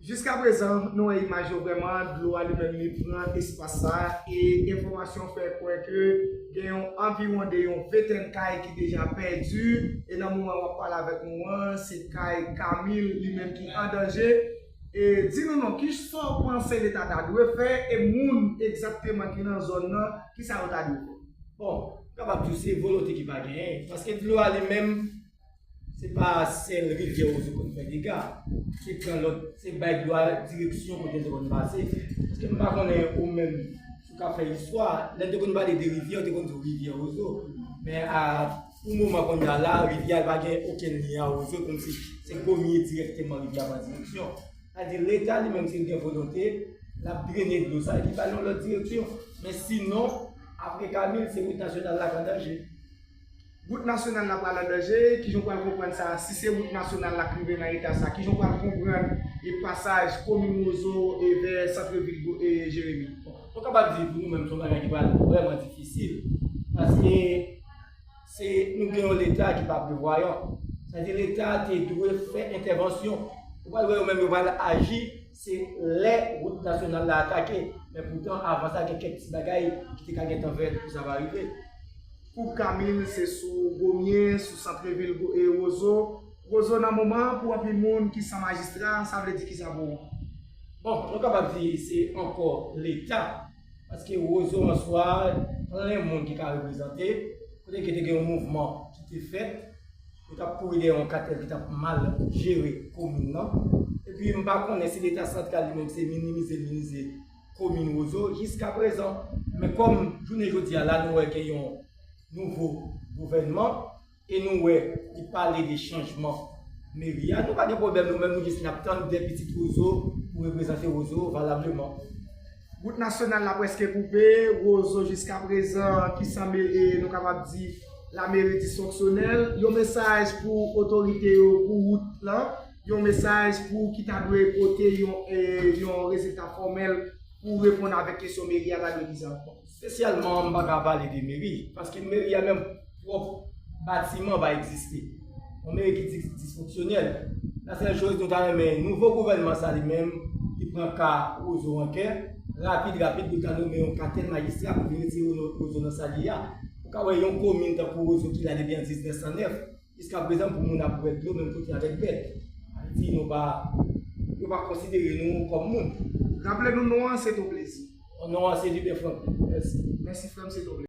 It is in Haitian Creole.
Jiska prezan nou wè imaj yo vrèman, dlo a li menm li pran espas sa a e enfòmasyon fè kwè ke gen yon anviwon de yon ventèn kay ki deja pèdi e nan moman map pale avèk nou an se kay Camille li menm ki an danje e di nou non kisa w panse leta ta dwe fè e moun egzakteman ki nan zòn nan kisa yo ta dwe fè bon m kapab di w se volonte ki pa genyen paske dlo a li menm Se pa sèl rivyè Wozo konn fè dega, se pran lòt, se bay dlo a direksyon kote l te konn pase. Èske m pa konnen ou menm ki konn fè istwa, lè n te konn pale de rivyè, yo te konn di w rivyè Wozo. Men a pou moman kounye a la, rivyè a pa gen okenn lyen a Wozo kòmsi se premye dirèkteman rivyè a pran direksyon. Sa vle di Leta li menm si l gen volonte, l ap drene dlo sa epi ba l yon lòt direksyon. Men sinon, apre Kamil, se wout nasyonal la k an danje. Wout nasyonal la pral an danje, kijan w pral konprann sa, si se wout nasyonal la k rive nan eta sa, kijan w pral konprann e pasaj komin Rozo e vè santre vil Jeremi? Nou kapab di pou nou menm se yon bagay ki pral vrèman difisil, paske se nou gen yon leta ki pa prevwayan, sa di leta te dwe fè entèvansyon, ou pral wè yo menm yo pral aji se lè wout nasyonal la atake, men poutan avan sa gen kèk ti bagay ki te ka gentan fèt pou sa pa rive. Koub Kamil se sou Gomye, sou santrevil Rozo. Rozo nan moman an pou anpil moun ki san majistra sa vle di kisa pou ou? Bon, nou kapab di se ankò leta, paske Rozo an swa plen moun ki ka reprezante, kote ke te gen yon mouvman ki te fèt, yo t ap kouri dèyè yon katèl ki t ap mal jere komin nan. Epi m pa konnen si leta santral li menm se minimize l minimize. komin Wozo jiska prezan. Men kòm jounen jodi a la nou wè gen yon nouvo gouvènman e nou wè li pale de chanjman meri a, nou pa gen pwoblèm nou menm nou jis nap tann 2 pitit Wozo pou reprezante Wozo valableman. Wout nasyonal la prèske koupe Wozo jiska prezan ki san meri e nou kapab di lameri disfonksyonèl. Yon mesaj pou otorite yo pou wout lan? Yon mesaj pou ou ki ta dwe pote yon rezilta fòmèl pou ou reponn avèk kesyon meri a ta dwe vize ak bon. Espesyalman m pa ka pale de meri, paske meri a menm pwòp batiman pa egziste. Yon meri ki disfonksyonèl. La sèl choz nou ta renmen nouvo gouvènman sa li menm li pran ka Wozo an kè, rapid rapid pou l ta nome yon katèl majistra pou li retire Wozo nan sa li ye a. Ou ka wè yon komin tankou Wozo ki la depi an 1909. Jiska prezan pou moun ap bwè dlo menm kote avèk bèt. Ayiti nou pa yo pa konsidere nou kòm moun. Raple nou non an se ton plezi. Non an se Lubin Franck. Mèsi. Mèsi frè m se ton plezi.